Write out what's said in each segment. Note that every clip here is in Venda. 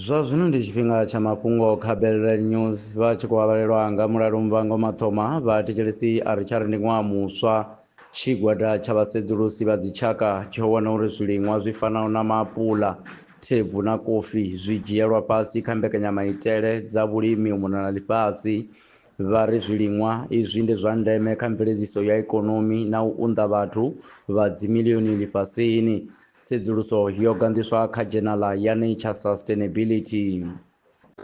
zwa zwino ndi tshifhinga tsha mafhungo kha belrel news vha tshi khou avhalelwa nga mulalo mvango mathoma vha thetshelesi a ri tsha ri ndi ṅwaha muswa tshigwada tsha vhasedzulusi vha dzitshaka tsho wana uri zwiliṅwa zwi fanaho na maapula thebvu na kofi zwi dzhielwa fhasi kha mbekanyamaitele dza vhulimi u mona na ḽifhasi Vha ri zwiliṅwa izwi ndi zwa ndeme kha mveledziso ya ikonomi na u unḓa vhathu vha dzimilioni ḽifhasini. Tsedzuluso yo ganḓiswa kha dzhenala ya Nature Sustainability.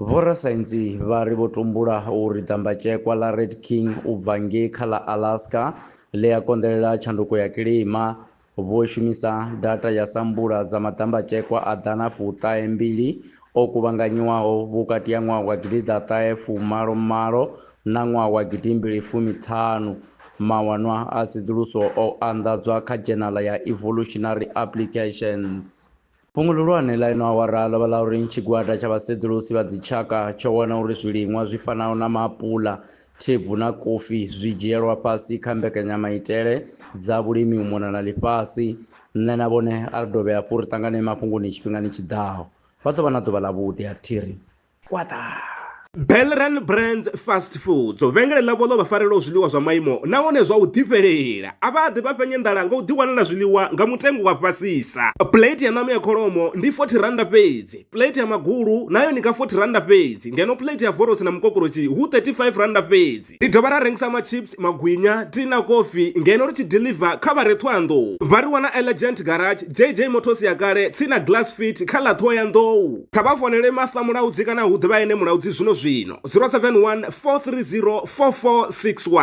Vhorasaintsi vha ri vho tumbula uri ḓambatshekwa ḽa Red King u bva ngei kha ḽa Alaska ḽi a konḓelela tshanduko ya kilima, Vho shumisa data ya sambula dza maḓambatshekwa a ḓana fuṱahe mbili o kuvhanganyiwaho vhukati ha ṅwaha wa gidiḓaṱahe fumalo malo na ṅwaha wa gidimbili fumi ṱhanu. Mawanwa a tsedzuluso o anḓadzwa kha dzhenala ya Evolutionary Applications. Fhungo ḽihulwane ḽa ino awara ḽo vha ḽa uri tshigwada tsha vhasedzulusi vha dzitshaka tsho wana uri zwiliṅwa zwi fanaho na maapuḽa, thebvu na kofi zwi dzhielwa fhasi kha mbekanyamaitele dza vhulimi u mona na ḽifhasi. Nṋe na vhone a ri dovhe hafhu ri ṱangane mafhungoni tshifhingani tshi ḓaho. Vha ḓo vha na ḓuvha ḽavhuḓi. A thi ri. kwaṱa Belran Brands Fast Foods vhengele ḽavho ḽo vha farelaho zwiḽiwa zwa maimo nahone zwa u ḓifhelela a vha ḓi vha fhenye nḓala nga u ḓiwanela zwiḽiwa nga mutengo wa fhasisa plate ya ṋama ya kholomo ndi 40 randa fhedzi plate ya magulu nayo ni nga 40 randa fhedzi ngeno plate ya vorosi na mukokorosi hu 35 randa fhedzi Ri dovha ra rengisa machips, magwinya, tea na kofi ngeno ri tshi deliver kha vha re Thohoyandou. Vha ri wana Elegant Garage, JJ Motors ya kale, tsini na Glass Fit kha ḽa Thohoyandou. Kha vha founele Master Mulaudzi kana hu ḓe vha ene Mulaudzi zwino zwino, 071 430 4461.